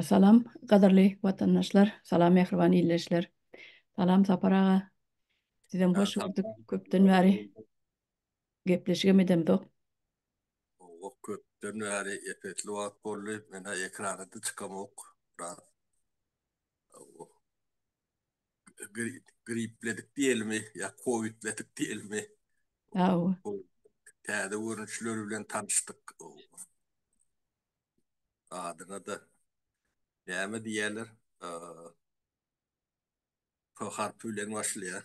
Salam, gadyrly watandaşlar! Salam, mähriban ildeşler! Salam, Sapar aga! Sizem hoş gördük, köpden bäri gepleşigem edemzok. Goh, köpden bäri, epesli wagt boldy, men-ä ekrana-da çykamok, biraz. gripledik diýelmi ýa kowidledik diýelmi täze görnüşleri bilen tanyşdyk adyna da näme diýerler p harpy bilen başlaýar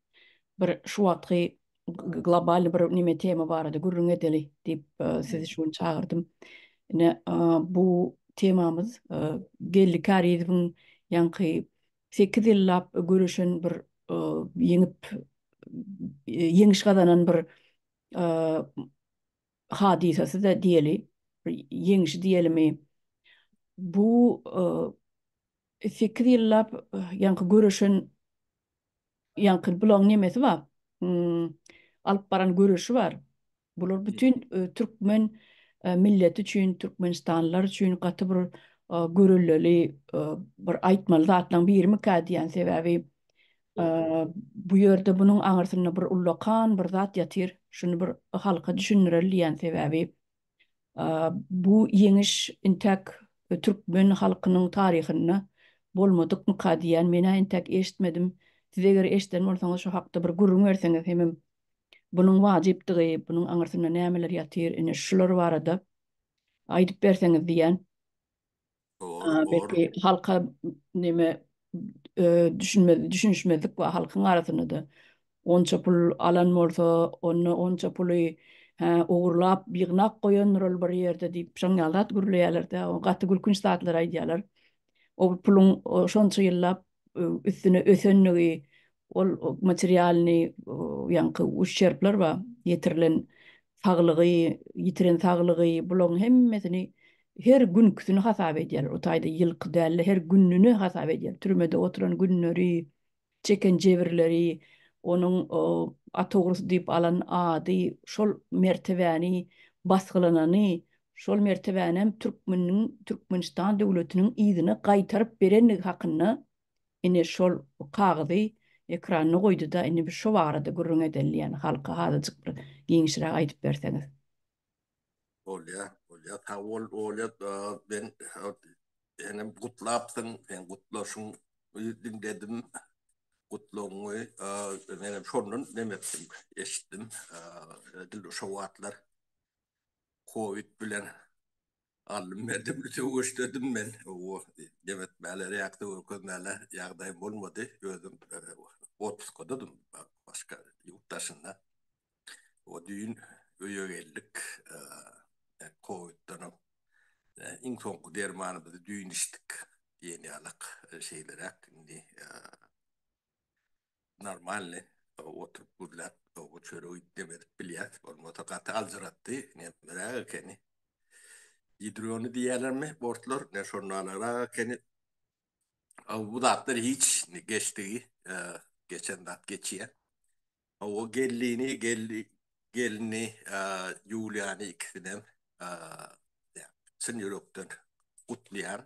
bir şu wagtky globalny bir neme tema barada gürrüň edeli diýip sizi şu gün çagyrdym. Ine bu temamyz Geldi Karizowyň ýaňky 8 ýyllap göreşen bir ýeňip ýeňiş gazanan bir hadysasy-da diýeli, ýeňişi diýelimi. Bu 8 ýyllap ýaňky göreşen Ýaňky bulaň nemesi bar? Alyp baran göreşi bar. Bular bütin türkmen milleti üçin, türkmenistanlylar üçin gaty bir görelleli bir aýtmaly zatlaň birimikä diýýän. Sebäbi bu ýerde bunuň aňyrsynda bir ullakan bir zat ýatyr. Şuny bir halka düşündireli diýýän. Sebäbi Bu ýeňiş intäk türkmen halkynyň taryhynda bolmadykmyka diýýän, men-ä intäk eşitmedim. Siz eger eşiden bolsaňyz şu hakda bir gürrüň berseňiz hemem bunuň wajypdygy, bunuň aňyrsynda nämeler ýatyr, ine şular barada aýdyp berseňiz diýýän. Belki halka neme düşünmez, düşünüşmezlik we halkyň arasynda da onça pul alan bolsa, onda onça puly ogurlap, ýygnap goýandyr ol bir ýerde diýip, şoň ýaly zat gürleýärler-de, gaty gülkünç zatlar aýdýarlar. O puluň şonça ýyllap üstüne ösenligi, ol materialnyý ýaňky uşçerpler bar, ýetirilen saglygy, ýitiren saglygy, bularyň hemmesini her günküsini hasap edýärler, o taýda ýylky däl-de, her gününi hasap edýär, türmede oturan günleri, çeken jebirleri, onuň Atogursy diýip alan ady, şol mertebäni, basgylanany, şol mertebänem türkmeniň Türkmenistan döwletiniň yzyna gaýtaryp berendigi hakynda ine şol kagyzy ekranyna goýduda indi biz şo barada gürrüň edeli ýaly halka azajyk bir giňişräk aýdyp berseňiz. Bolýar, bolýar. Sag bol Olýa, men senem gutlapsyň, seň gutlaşyň diňledim, gutlagyňy menem şondan neme etdim, eşitdim, dilde şo wagtlar. Covid bilen aldym berdim söweşdirdim men o nebetmäler ýakda görkezmäler ýagdaýym bolmady özüm otpuskadadym başga ýurt daşynda o düýn öýe geldik kowidden iň soňky dermanymyzy düýn içdik diýen ýalak şeýleräk indi normalny oturyp gürläp bu çöregi dem edip bilýäs bolmasa gaty aljyratdy nemeräk ekeni gidrony diýýälermi bortlar ne şonnalara ekeni Aw bu zatlar hiç geçdigi geçen zat geçýär Aw o gelini geldi gelini Ýuliýany ikisinem çyn ýürekden gutlaýan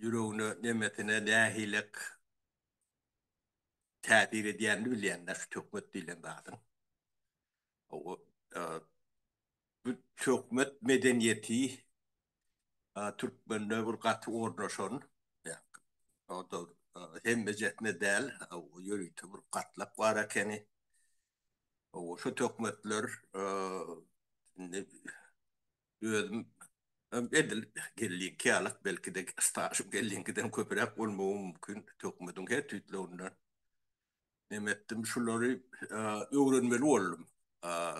ýüregine, nemesine nähilek täsir edýänini bilýänler şu töhmet diýlen zadyň. Bu töhmet medeniýeti türkmende bir gaty ornaşan, ýa-da hemmejesinde däl, ýörite bir gatlak bar ekeni. Şu töhmetler indi Özüm hem edil gellinki ýaly, belki-de stažym gelliňkiden köpräk bolmagy mümkin. Töhmediň her tüýtlerinden neme etdim, şulary öwrenmeli boldum.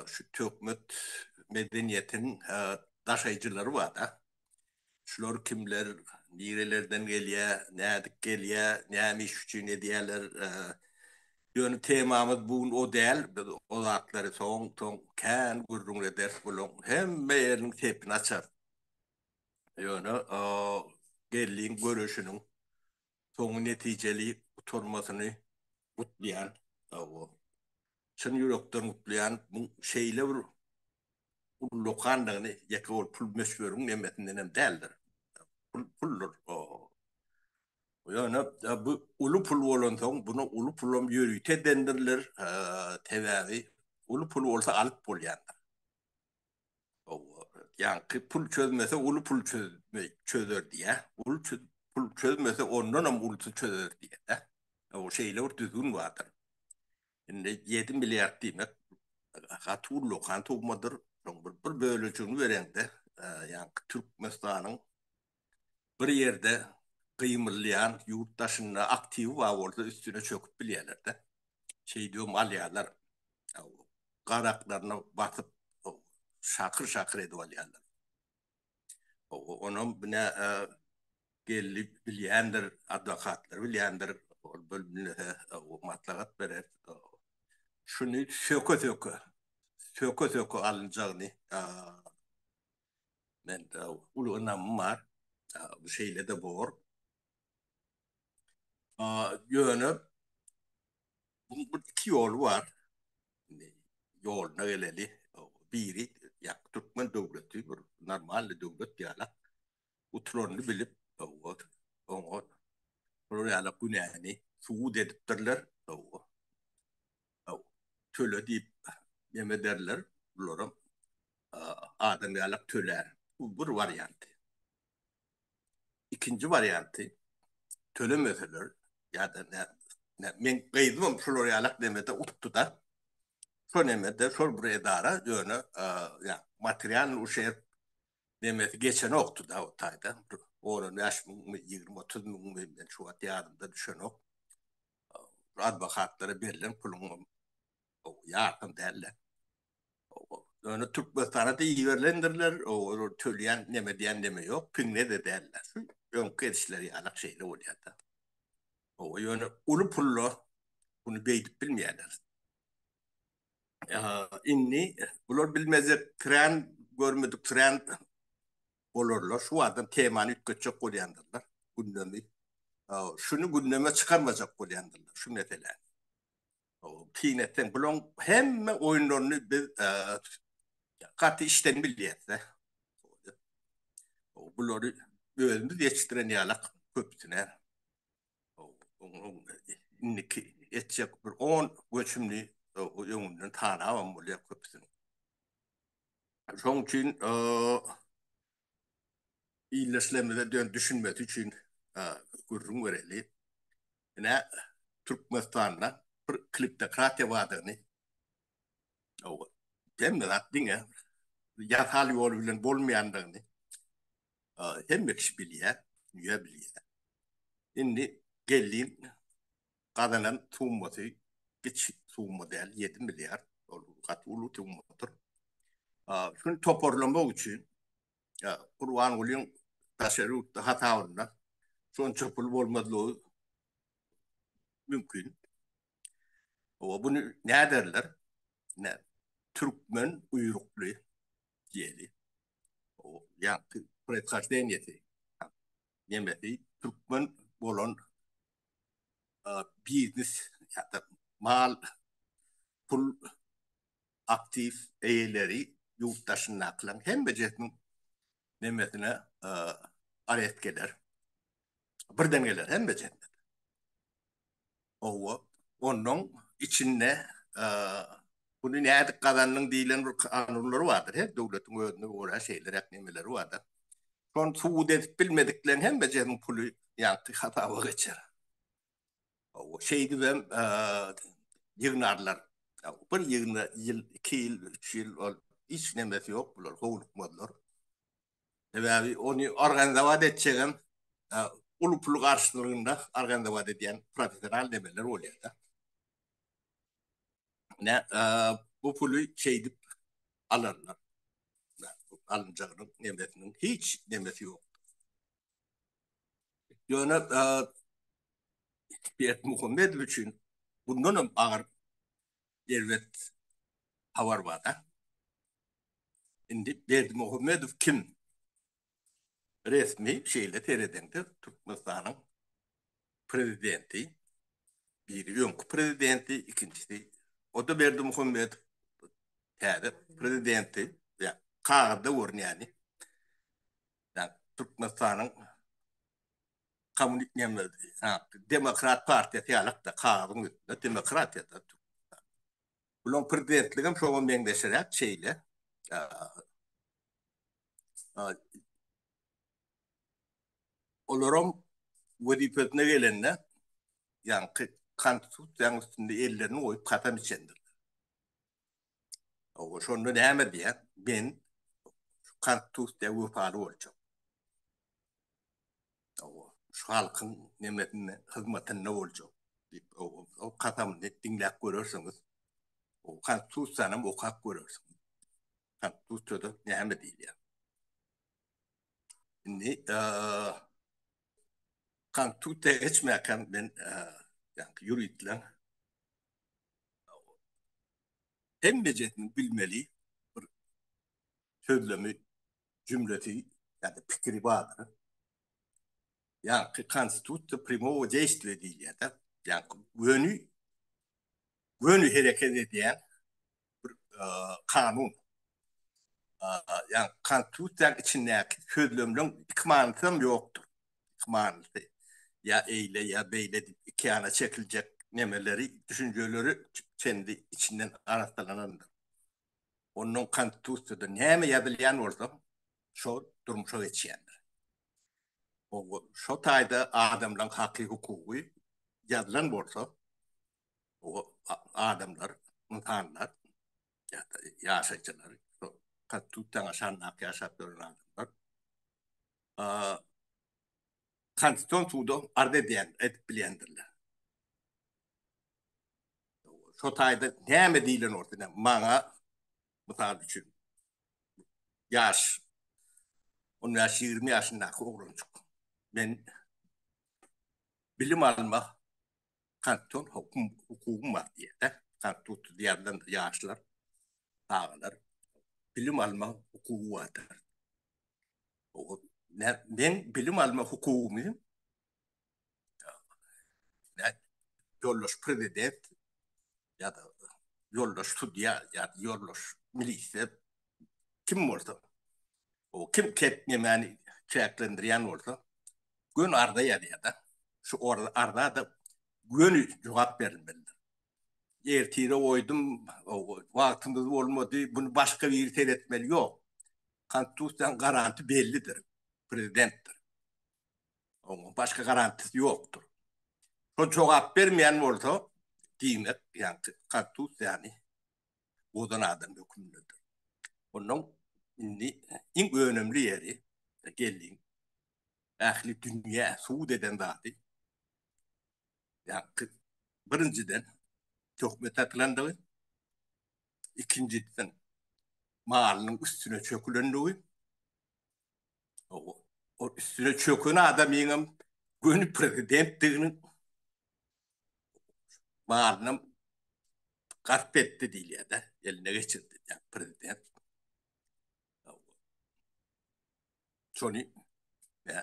Şu töhmet medeniýetiniň daşaýjylary bar-da. Şular kimler, nirelerden gelýär, nädip gelýär, näme iş üçin edýärler? Ýöne temamyz bu gün o däl. Biz o zatlary soň-soň kän gürrüň ederis. Bularyň hemme ýeriniň sepini açarys. Ýöne geldiň görüşiniň soňy netijeli gutarmasyny gutlaýan sagbol çyn ýürekden gutlaýan bu şeýle bir ullakandygyny ýeke bir pul möçberiň nemesindenem däldir pul puldyr ýöne bu uly pul bolansoň bunu uly pulam ýörite edendirler sebäbi uly pul bolsa alyp bolýandyr. Ýaňky pul çözmese uly pul çözme çözer diýä. Uly pul çözmese ondan hem ulysy çözer diýä. O şeýle bir düzgün bardyr. Indi 7 milliard diýmek gaty ullakan summadyr. Şoň bir bölejigini bereňde, ýaňky Türkmenistanyň bir ýerde gymyldaýan ýurt daşynda aktiwi bar bolsa üstüne çöküp bilýärlerde. Şeýdibem alýarlar. Garaklaryna basyp şakyr şakyr edip alýarlar. Onam bine geldi bilýändir adwokatlar bilýändir ol bölümlere maslahat berer. Şuny söke söke söke söke alynjagyny Mende uly ynamym bar. Bu şeýle-de bor. Ýöne buň bir iki ýoly bar. Indi ýoluna geleli. Biri ýa türkmen döwleti bir normalny döwlet ýaly utularyny bilip, oňa şolar ýaly günäni subut edipdirler. töle diýip neme ederler, bularam adam ýalak tölär. Bu bir warianty. Ikinji warianty, tölemeseler ýa-da näme, meň gyzymam şular ýalak nemede utdy-da, şo nemede, şol bir edara, ýöne material uşerp nemesi geçenokdy-da o taýdan, bir on-on bäş müňmi, ýigrimi-otuz müňmi, men şu wagt ýadymda düşenok. adwokatlara berlen puluň ýarpyny däldi. Ýöne Türkmenistana da iberilendiriler, olar tölýän neme diýen neme ýok, piňe-de däldiler. Öňki edişleri ýaly şeýle bolýar-da. Owa, ýöne uly pullar muny beýdip bilmeýärler. Indi bular bilmezek, kran görmedik, kran bolarlar, şu barada temany üýtgetjek bolýandyrlar, gündemi, şuny gündeme çykarmajak bolýandyrlar, şu meseläni. Syn etseň, bularyň hemme oýunlaryny biz gaty içden bilýäs-de. Bulary özümiz ýetişdiren ýalak köpüsine. Indiki etjek bir on göçümini öňünden tanabam bolýar köpüsini. Şoň üçin ildeşlerimize dön düşünmesi üçin gürrüň bereli. Ine Türkmenistanda bir kliptokratiýa bardygyny owa hemme zat diňe ýasal ýol bilen bolmaýandygyny hemme kişi bilýär, dünýä bilýär. Indi geldiň gazanan summasy giç summa däl, ýedi milliard, ol gaty uly summadyr. Şuny toparlamak üçin Gurbangulyň daşary ýurtda hasabynda şonça pul bolmazlygy mümkin. Oba buny näderler? Ine, türkmen guýrukly diýeli. Ýagty proizhojdenýesi nemesi türkmen bolan biznes ýa-da mal, pul, aktiw eýeleri ýurt daşyndakylaryň hemmejesiniň nemesine areszt geler. Birden geler hemmejesi. Owa, onuň içinde puly nädip gazandyň diýlen bir kanunlary bardyr. Her döwletiň özüne görä şeýleräk nemeleri bardyr. Şony subut edip bilmedikleň hemmesiniň puly ýagty hasaba geçer. Şeýdibem ýygnarlar. Bir ýygna ýyl, iki ýyl, üç ýyl ol hiç nemesi ýok bular howlukmazlar. Sebäbi ony organizowat etjegem uly pul garşylygynda organizowat edýän professional nemeler bolýar-da. Ine bu puly şeýdip alarlar. alynjagynyň nemesiniň hiç nemesi ýok. Ýöne Berdi Muhammedow üçin bundan hem agyr erbet habar bar-da. Indi Berdi Muhammedow kim? Resmi şeýle seredeňde Türkmenistanyň prezidenti, biri öňki prezidenti, ikinjisi Oda Berdimuhamedow, täze prezidenti, kagyzda görünýäni Türkmenistanyň Demokrat partiýasy ýalyk-da, kagyzyň üstünde demokratiýa-da. Bulaň prezidentligem şoňa meňzeşiräk şeýle. Olaram wezipesine gelende, ýaňky Konstitusiýanyň üstünde ellerini goýup kasam içendirler. Şonda näme diýýär? Men Konstitusiýa wepaly boljak. Hawa, şu halkyň nemesinde, hyzmatynda boljak, diýip, o kasamyny diňläp görersiňiz. O Konstitusiýanam okap görersiňiz. Konstitusiýada näme diýilýär? Indi Konstitusiýa geçmäkäm men ýaňky ýuridler hemmejesiniň bilmeli bir sözlemi jümlesi ýa-da pikiri bardyr. Ýa-ki konstitusiýa primowo deýstwe diýilýär-de, ýa-ki göni göni hereket edýän bir kanun. Ýa-ni konstitusiýanyň içindäki sözlemleň iki manysy hem ýokdur. Iki manysy ýa eýle ýa beýle diýip iki ýana çekiljek nemeleri düşünjeleri içinden arassalanandyr. Ondan Konstitusiýada näme ýazylýan bolsa, şo durmuşa geçýändir. Şo taýda adamlaryň haky, hukugy ýazylan bolsa, adamlar, ynsanlar, ýaşaýjylar, Konstitusiýanyň aşagyndaky ýaşap ýören adamlar Konstitusion suda arz edýän edip bilýändirler. Şo taýda näme diýlen bolsa ine maňa mysal üçin ýaş on bäş ýigrimi ýaşyndaky oglanjyk men bilim almak konstitusion hukum hukugym bar diýýär-de konstitusiýa diýýän ýaşlar çagalar bilim almak hukugy bardyr. Men bilim alma hukugymy ýoldaş Prezident ýa-da ýoldaş sudýa ýa-da ýoldaş ministr kim bolsa, o kim kepni meni çäklendirýän bolsa, göni arza ýazýar-da. Şu arza-da göni jogap berilmelidir. Ertire goýdum, wagtymyz bolmady, muny başga biri seretmeli, ýok. Konstitusiýanyň garanty bellidir. Prezidentdir. Onuň başga garantisy ýokdur. Şo jogap bermeýän bolsa, diýmek, ýagny Konstitusiýany bozan adam hökmündedir. Ondan indi iň önemli ýeri geldiň. Ähli dünýä subut eden zady. Ýagny birinjiden töhmet atylandygy, ikinjisiň malynyň üstüne çökülendigi, o üstüne çöken adamyňam göni prezidentdiginiň malyny gasp etdi diýilýär-de, eline geçirdi diýýär prezident. Şony we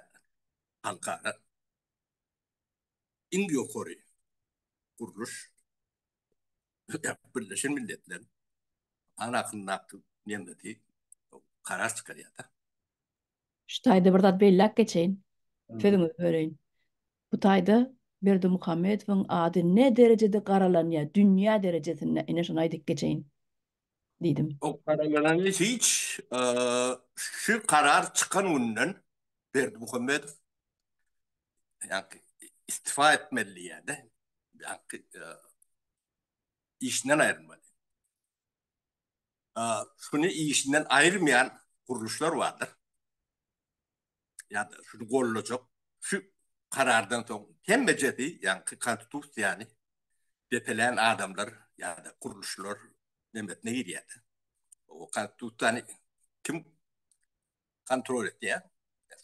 halkara iň ýokary gurluş Birleşen Milletler anakyndaky nemeti karar çykarýar-da. Şu taýda bir zat belläp geçeýin. Sözüňizi böleýin. Bu taýda Berdimuhamedowyň ady ne derejede garalanýar dünýä derejesinde, ine şony aýdyp geçeýin. diýdim. O garaňylany hiç şu karar çykan günden Berdimuhamedow ýaňky istifa etmeli diýýärdi. Ýaňky işinden aýrylmaly. Şuny işinden aýyrmaýan gurluşlar bardyr. ya da şunu gollajak şu karardan soň hemmejesi yani konstitusiýany depelän adamlar ya da gurluşlar nemetine girýär. O konstitusiýany kim kontrol etýär?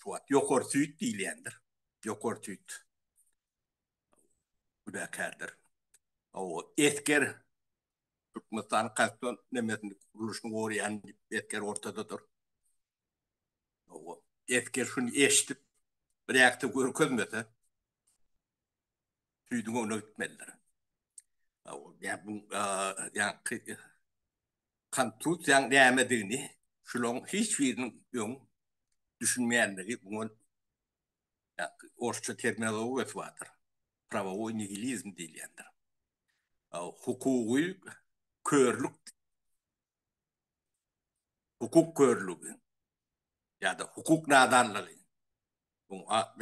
Suat ýokary süýt diýilýändir. Ýokary süýt günäkärdir. O esger Türkmenistan konstitusiýasy nemetini gurluşyny gorýan esger ortadadyr. Esger şuny eşidip, biräkde görkezmese, süýdüň öňüne gitmelidir. Ýa bu ýaňky kontuziýaň nämedigini şularyň hiç biriniň öň düşünmeýändigi muňa orsça terminologiýa badyr. Prawowoý nihilizm diýilýändir. Hukugy körlük hukuk körlügi ýa-da hukuk nadanlygy, muň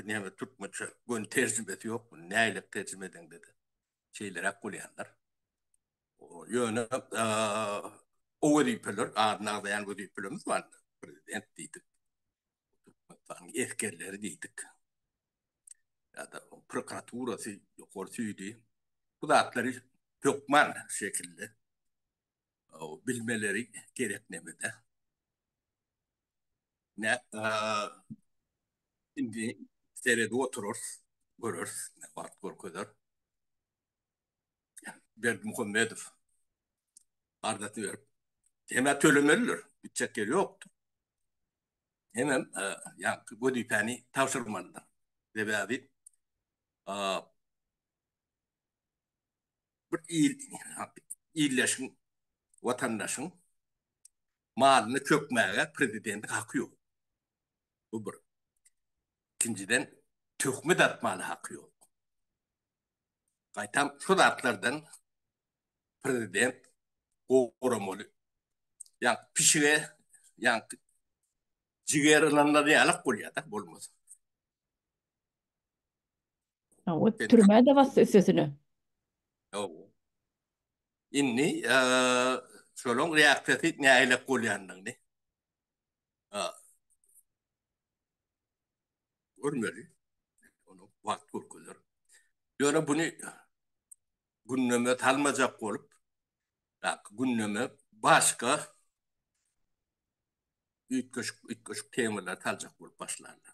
näme türkmençe göni terjimesi ýok, muny näleip terjime edeňde-de şeýleräk bolýandyr. Ýöne o wezipeler, adyny agzaýan wezipelerimiz bar, prezident diýdik, türkmenistanyň esgerleri diýdik, ýa-da prokuraturasy, ýokary süýdi, bu zatlary hökman şekilli bilmeleri gerek nemede. Ne indi seredi oturur, görür, ne wagt görkezer. Berdi Muhammedow ardaty berip, hemä tölemeliler, gitjek ýeri ýokdur. Hemem ýaňky wezipäni tabşyrmalydyr. Sebäbi bir il, illeşiň, watandaşyň malyny çökmäge prezidentiň haky ýok. Bu bir. Ikinjiden, töhmet atmaga haky ýok. Gaýtam, şu zatlardan prezident goramaly. Ýa-da pişige, ýa-da jigeri ynanylýanok bolýar-da, bolmasa. Hawa, Sen- türmä-de bassy üstesine. Hawa. Indi eee, şolaň reaksiýasy nähilek bolýandygyny a, görmeli. Onu wagt görkezer. Ýöne buny gündeme salmajak bolup, ýa, gündeme başga üýtgeşik, üýtgeşik temalar saljak bolup başlandyr.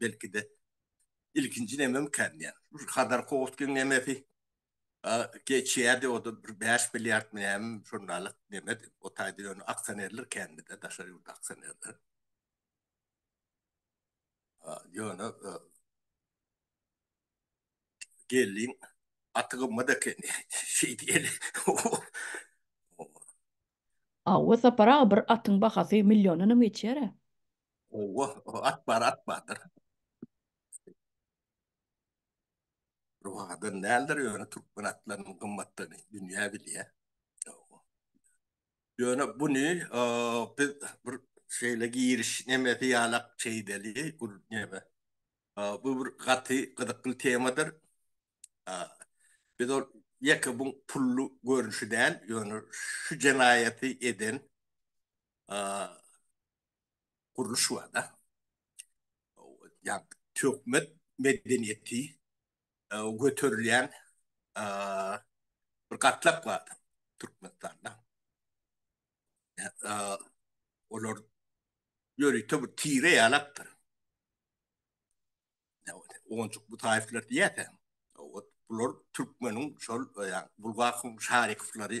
belki-de ilkinji nememkän diýýän. Bir Hazar howa geňemesi geçýärdi, o-da bir bäş milliardmy näme şondalyk nemedi. O taýda ýöne aksionerler kändi-de, daşary ýurt aksionerleri. Ýöne geldiň, aty gymmat eken şeýdeli. Hawa, Sapar aga, bir atyň bahasy milliondanam geçýär-ä. Owa, at bar, at bardyr. Ruhadan näldir ýöne türkmen atlarynyň gymmatdygyny dünýä bilýär. Ýöne buny biz bir şeýle giriş nemesi ýalak çeýdeli, gür neme. Bu bir gaty gyzykly temadyr. Biz ol ýeke bu pully görnüşi däl, ýöne şu jenaýaty eden gurluş bar-da. Ýagny töhmet medeniýeti göterilýän bir gatlak bar-da Türkmenistanda. Olar ýörite bir tire ýalapdyr. Onjuk Butaýewler diýýärkä, bular türkmeniň şol Bulgakowyň Şarikowlary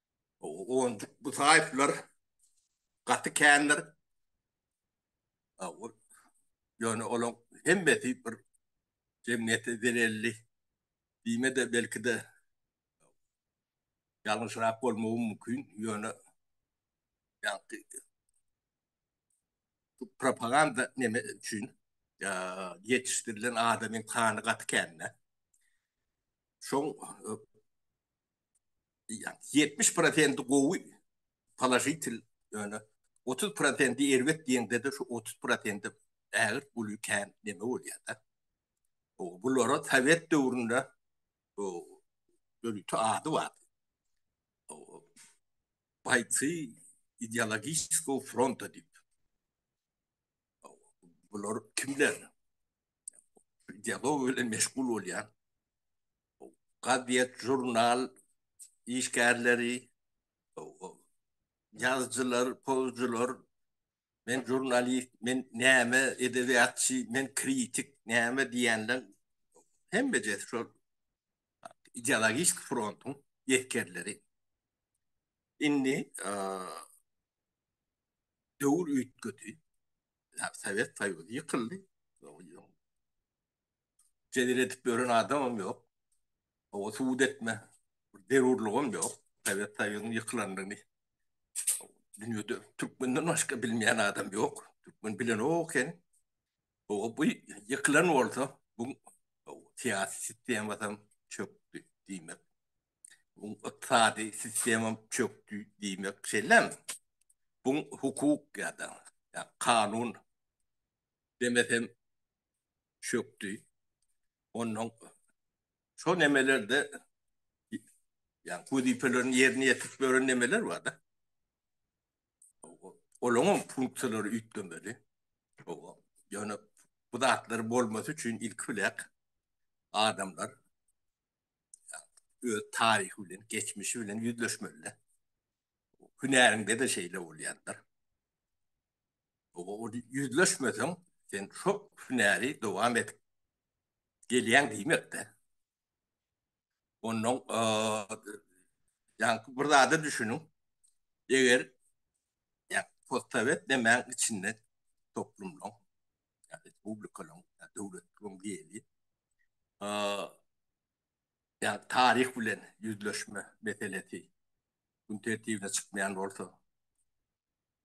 Onjuk Musaýewler gaty kändir. Ýöne olaň hemmesi bir jemgyýete zelelli diýme-de, belki-de ýalňyşrak bolmagy mümkin, ýöne ýagty propaganda neme üçin ýetişdirilen adamyň sany gaty kän-dä. Şoň 70 prosenti gowy položitel ýöne 30 prosenti erbet diýeňde-de şu 30 prosenti ägirt uly kän neme bolýar-da. Bulara sowet döwründe ýörite ady bar. Baýcy ideologiçeskiý fronta diýip. Bular kimler? dialog bilen meşgul bolýar. Gazet, žurnal işgärleri, ýazyjylar, pozucular, men žurnalist, men näme edebiýatçy, men kritik, näme diýenler hemme de şol ideologik frontuň ýetkerleri. Indi döwür üýtgedi. Sowet Soýuzy ýykyldy. Jedel edip ýören adamam ýok. Oňa subut etme zerurlygam ýok. Sowet Soýuzynyň ýykylandygyny dünýede türkmenden başga bilmeýän adam ýok. Türkmen bilenok eken. Oňa bu ýykylan bolsa, bu syýasy sistema çökdi diýmek. Buň ykdysady sistema çökdi diýmek şeýlemi? Buň hukuk ýa-da kanun demesem çökdi. Onnoň şo nemelerde ýa wezipelerini ýerine ýetirip ýören nemeler bar-da. Olaňam funksiýalary üýtgemeli. Oba. Ýöne bu zatlar bolmasy üçin ilki bilek adamlar öz taryhy bilen, geçmişi bilen ýüzleşmeli. Hünärinde de şeýle bolýandyr. O ýüzleşmeseň, sen şo hünäri dowam edip gelýän diýmekde. Ondan ýa-da bir zada düşüniň. Eger ýa-da sowet demäň içinde toplumlaň. ýa-da respublikanyň, ýa-da döwletligiň geli, ýa taryh bilen ýüzleşme meselesi gün tertibine çykmaýan bolsa,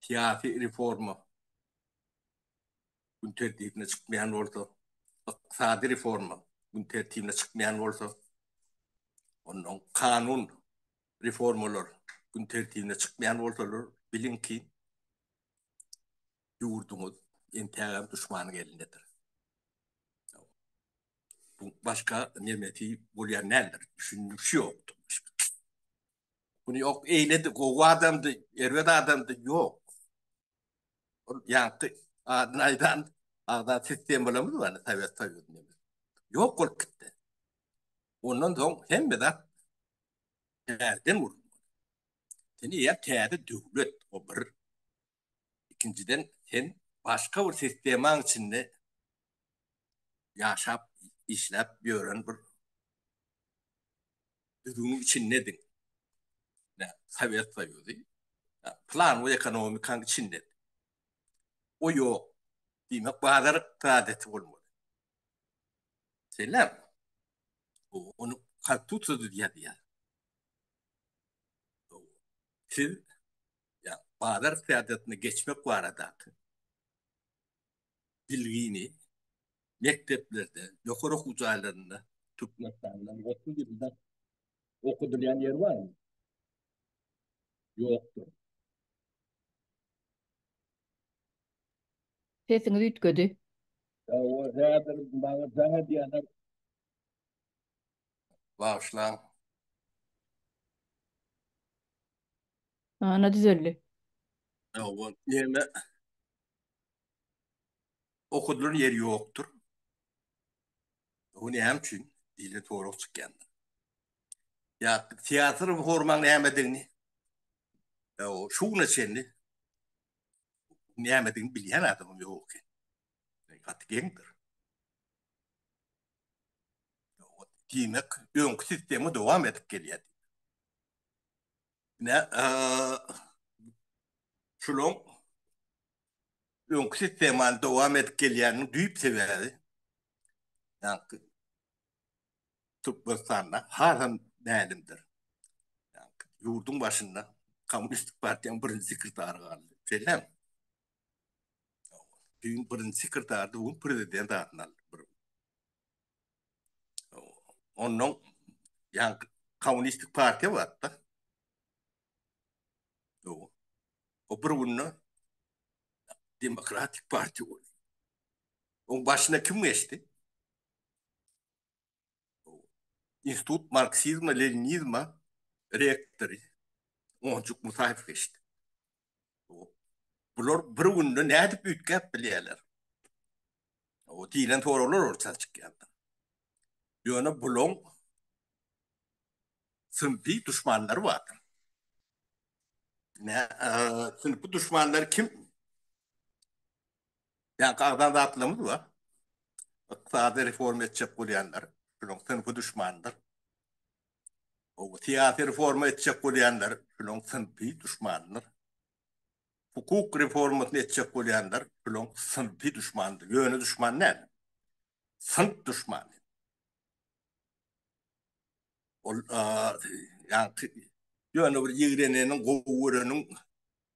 syýasy reforma gün tertibine çykmaýan bolsa, ykdysady reforma gün tertibine çykmaýan bolsa, ondan kanun reformalar gün tertibine çykmaýan bolsalar, biliň ki, Ýurduňyz entägem duşmanyň elindedir. Bu başga nemesi bolýan däldir. Düşündüş ýokdur. Bunu ýok eýledi, gowy adamdy, erbet adamdy, ýok. Ol ýaňky adyny aýdan agza sistemalarymyz bar, Sowet Soýuzyny. Ýok bolup gitdi. Ondan soň hemme zat täzeden gurulmaly. Indi ýa täze döwlet, o bir ikinjiden sen başga bir sistemaň içinde ýaşap, işläp ýören bir düzgüniň içindediň. Ine, Sowet Soýuzy plan we ekonomikaň içinde. O ýok. Diýmek, bazar ykdysadyýeti bolmaly. Şeýlemi? Ony konstitusiýada ýazýar. Siz ýa-da bazar ykdysadyýetine geçmek baradaky bilgini mekdeplerde, ýokary okuw jaýlarynda Türkmenistanda otuz dilde okadylýan ýer barmy? Ýokdur. Sesiňiz üýtgedi. Ýa o häzir maňa jaň edýänler Bagyşlaň. Ana düzeldi. Ýa-wa, ýene Okudylan ýeri ýokdur. Bu näme üçin? diýlen sorag çykýandyr. Ýa teatr hormaň nämedigini, ýa-wa şu güne çenli nämedigini bilýän adamam ýok eken. Gaty geňdir. Diýmek, öňki sistema dowam edip gelýär. Ne, şulan öňki sistemany dowam edip gelýänini düýp sebäbi, ýa-da Türkmenistanda hasam mälimdir. Ýurduň başynda Kommunistik partiýanyň birinji sekretary galdy. Şeýle. Düýn birinji sekretardy, bu gün prezident adyny aldy. Bir. Ondan yani kommunistik partiýa bardy. Ýok. O bir günde demokratik partiýa boldy. Oň başyna kim geçdi? Institut marksizma-leninizma rektory Onjuk Musaýew geçdi. Bular bir günde nädip üýtgäp bilýärler? O diýlen soraglar orta çykýardy. Ýöne bulaň synpy duşmanlary bardy. Nä, synpy duşmanlary kim? Ýaňky agzan zatlarymyz bar. Ykdysady reforma etjek bolýanlar, şularyň synpy duşmanydyr. Gowy syýasy reforma etjek bolýanlar, şularyň synpy duşmanydyr. Hukuk reformasyny etjek bolýanlar, şularyň synpy duşmanydyr. Ýöne duşman näme? Synp duşmany. Ol ýaňky ýöne bir ýigreneniň, gowy göreniň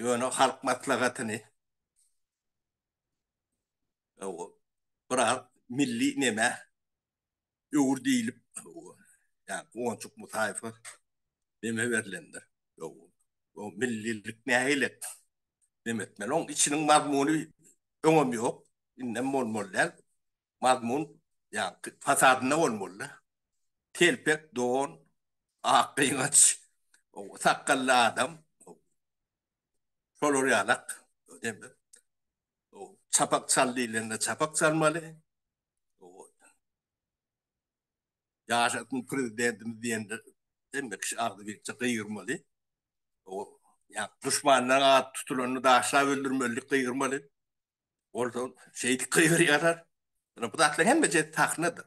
Ýöne halk maslahatyny biraz milli nämä öwür diýlip, ýa Guwançuk Musaýewe neme berlendir. O millilik nähili? Neme etmeli? Oň içiniň mazmuny öňem ýok, indem bolmaly däl. mazmun ýa-da fasadynda bolmaly-da. Telpek don, ak gyňaç, sakgally adam, şolar ýalak diýmek. Çapak çal diýlende çapak çalmaly. Ýaşasyn Prezidentimiz diýende hemme kişi agzybirçe gygyrmaly. Duşmanlaryň ady tutulanda daşlap öldürmelidik, gygyrmaly. Ol da şeýdip gygyryp ýatar. Ýöne bu zatlaryň hemmesi sahnadyr.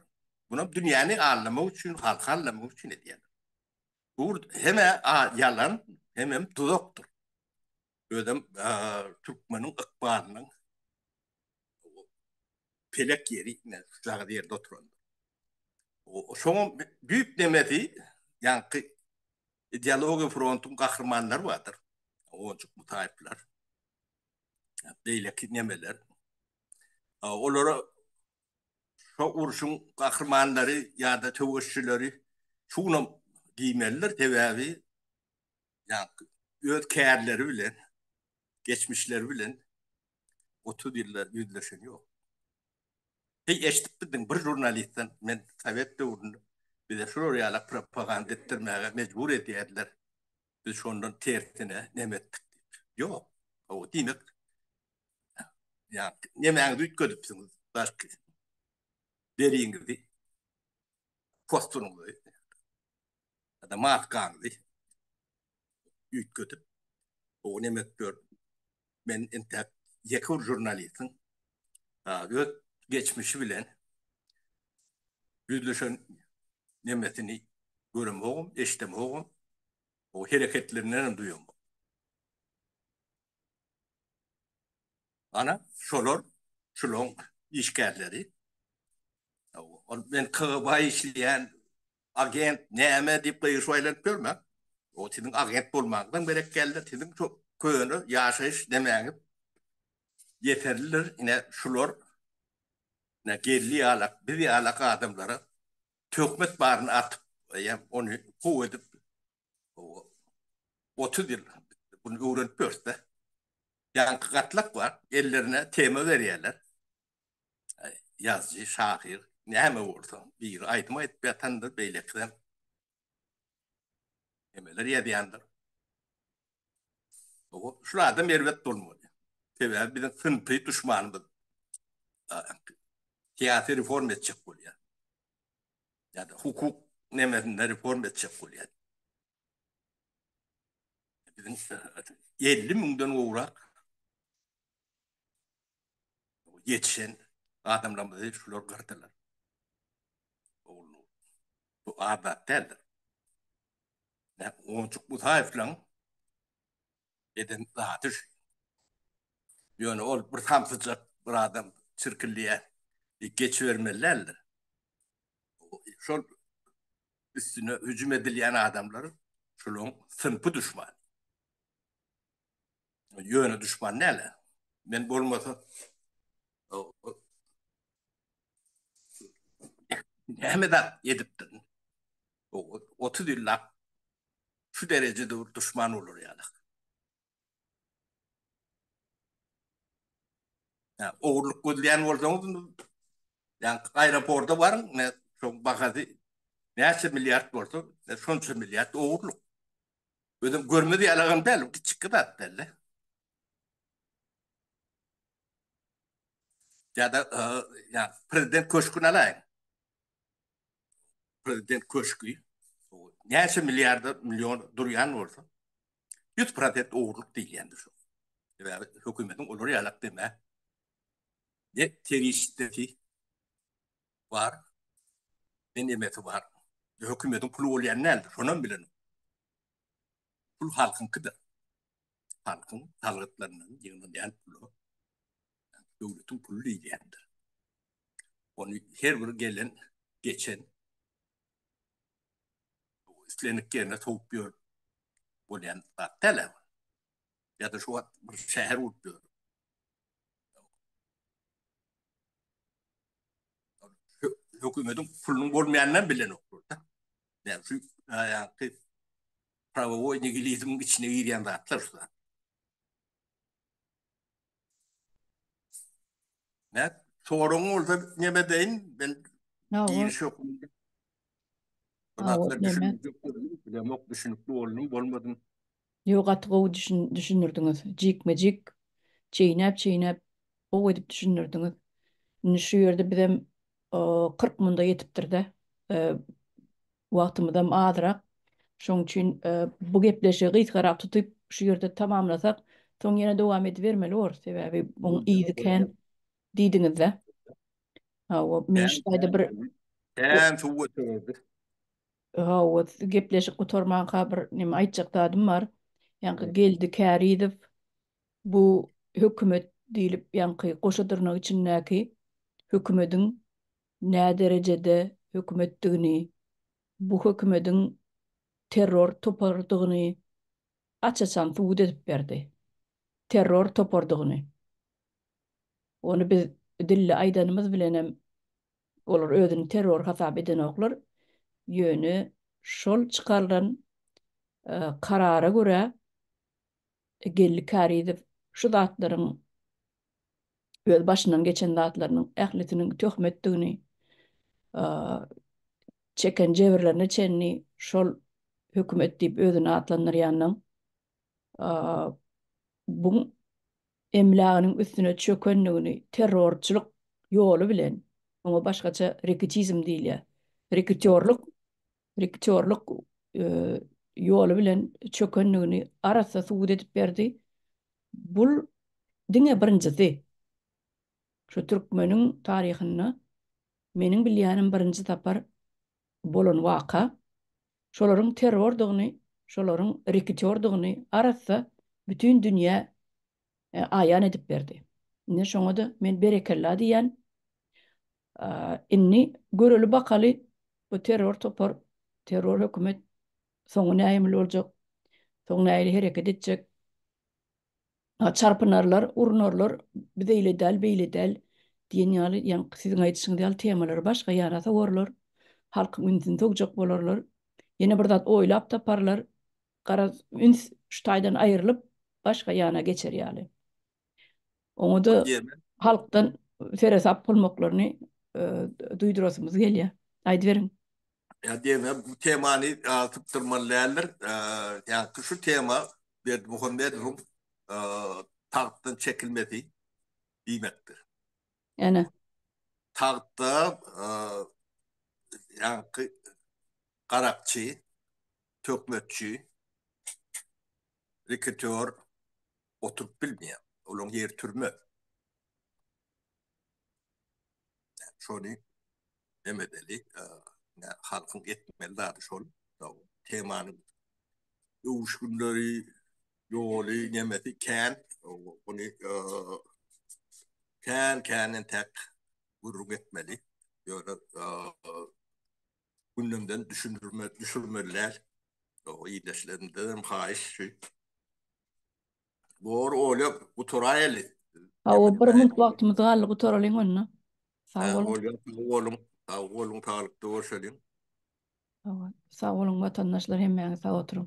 Muny dünýäni aldamak üçin, halky aldamak üçin edýärler. Bu heme ýalan, hemem duzakdyr. Özem türkmeniň ykbalynyň pelek ýeri, şujagyz ýerde oturan. Şonuň düýp nemesi, ýaňky ideologiýa frontuň gahrymanlary bardyr. Onjuk Mutaýyplar, beýleki nemeler. Olara şo urşuň gahrymanlary ýa-da söweşçileri şunam diýmelidir, sebäbi öz kärleri bilen, geçmişleri bilen otuz ýylda ýüzleşen ýok. Heý, eşidipmidiň, bir žurnalistden, men sowet döwründe bize şular ýaly propaganda etdirmäge mejbur edýärdiler Biz şondan tersine neme etdik diýip. Ýok. Hawa, diýmek, ýa-da nemäňizi üýtgedipsiňiz, belki, deriňizi, posturyňyzy, ýa-da maskanyzy üýtgedip, hawa, neme edip ýörüň? Men entäk ýeke bir žurnalistiň öz geçmişi bilen ýüzleşen nemesini göremogum, eşidemogum, o hereketlerinden hem duýamok. Ana, şolar, şulaň işgärleri. Ol men KGB-a işleýän agent, näme diýip gygyryşyp aýlanyp ýörme. O siziň agent bolmaňyzam gerek däldir, siziň şo köne ýaşaýyş nemäňiz ýeterlidir. Ine, şular ine Geldi ýaly, biz ýaly adamlara töhmet baryny atyp, eýe, ony gowy edip otuz ýyl muny öwrenip ýörüs-de. Ýaňky gatlak bar, ellerine tema berýärler. ýazyjy, şahyr, näme bolsa, biri aýdym aýdyp ýatandyr, beýlekisem nämeler ýazýandyr. Şul adam erbet bolmaly. Sebäbi biziň synpy duşmanymyz syýasy reforma etjek bolýar. Ýa-da hukuk nemesinde reforma etjek bolýar. Biziň elli müňden gowrak Ýetişen adamlarymyzy şular gyrdylar. Ogulnur. Bu az zat däldir. Näm Onjuk Musaýewlaň eden zady şu. Ýöne ol bir samsyjak bir adam çirkillýä diýip geçibermeli däldir. Şol üstüne hüjüm edilýän adamlar şulaň synpy duşmany. Ýöne duşman näle? Men bolmasa näme zat edipdirin? Otuz ýyllap şu derejede duşman bolar ýaly. Ogurlyk gözleýän bolsaňyz, ýaňky aeroporda baryň, şoň bahasy näçe milliard bolsa, şonça milliard ogurlyk. Özüm görmez ýalagam däl, bu kiçikki zat däl-de. Ýa-da ýa prezident köşgüni alaýyň. Prezident köşgi näçe milliarda million durýan bolsa, 100% ogurlyk diýilýändir şo. Sebäbi hökümetiň olar ýalak deme. Ýe, serişdesi. bar, ne nemesi bar. Hökümediň puly bolýan däldir, şonam bilenok. Pul halkyňkydyr. Halkyň salgytlaryndan ýygnalýan pula döwletiň puly diýilýändir. Ony her bir gelen, geçen islendik ýerine sowup ýörüp bolýan zat däl-ä bu. ya da şu wagt bir şäher bolup ýör. Hökümetiň pulunyň bolmaýanynam bilenoklar da. Yani şu ýaňky prawowoý nigilizmiň içine girýän zatlar şu zatlar. Nät, soragyň bolsa neme deýin, men giriş ýokum. Zatlar düşünmejek görünýär, bilemok, düşünikli boldum, bolmadym. Ýok, gaty gowy düşündirdiňiz. Jikme-jik, çeýnäp-çeýnäp, gowy edip düşündirdiňiz. Indi şu ýerde bizem kyrk munda ýetipdir-dä. Wagtymyzam azrak. Şoň üçin bu gepleşigi gysgarak tutup, şu ýerde tamamlasak, soň ýene dowam edibermeli borus, sebäbi muň yzy kän diýdiňiz-dä. Hawa, men şu taýda bir. Kän suwa çömüldi. Hawa, gepleşik gutarmanka bir näme aýtjak zadym bar. Ýaňky Geldi Kärizow bu hökümet diýlip ýaňky goşa dyrnak içindäki hökümediň näderejede hökümetdigini, bu hökümediň terror toparydygyny aç-açan subut edip berdi. Terror toparydygyny. Ony biz dilli aýdanymyz bilenem olar özüni terror hasap edenoklar, ýöne şol çykarylan karara görä Geldi Kärizow şu zatlaryň öz başyndan geçen zatlarynyň ählisiniň töhmetdigini, çeken jebirlerine çenli şol hökümet diýip özüni atlandyrýanyň, bu emläginiň üstüne çökendigini terrorçylyk ýoly bilen, oňa başgaça reketizm diýilýär, reketýorlyk rektorlyk ýoly bilen çökendigini arassa subut edip berdi. Bu diňe birinjisi. Şu türkmeniň taryhynda meniň bilýänim birinji sapar bolan waka. Şolaryň terrordygyny, şolaryň rekitordygyny arassa bütin dünýä aýan edip berdi. Indi şoňa-da men berekella diýýän. Indi göreli bakaly bu terror topar, terror hökümet soňy nähemil boljak, soň nähili hereket etjek. Çarpynarlar, urunarlar, biz eýle däl, beýle däl diýen ýaly ýaňky siziň aýdyşyňyz ýaly temalary başga ýana sowarlar. Halkyň ünsüni sogjak bolarlar. Ýene bir zat oýlap taparlar. Garaz, üns şu taýdan aýrylyp başga ýana geçer ýaly. Oňa-da halkdan seresap bolmaklaryny duýdurasymyz gelýär. Aýdyberiň. Ýa diýme, bu temany sypdyrmaly däldir. Ýa-da şu tema Berdimuhamedowyň tagtdan çekilmesi diýmekdir. Ene. Tagtda ýaňky garakçy, töhmetçi, reketýor, oturyp bilmeýär. Olaň ýeri türme. Şony näme edeli? Halkyň etmeli zady şol. Temanyň öwüşginleri, ýoly, nemesi kän. Ony kän-kän entäk gürrüň etmeli. Ýöne gündemden düşündirme düşürmeli däl. Ildeşlerimden hem haýyş şu. Bor olyap guturaýaly. Hawa bir munt wagtymyz galdy gutaralyň onda. Sag boluň. Bolýar sag boluň. Sag boluň saglykda bolşalyň. Hawa sag boluň watandaşlar hemmäňiz sag oturyň.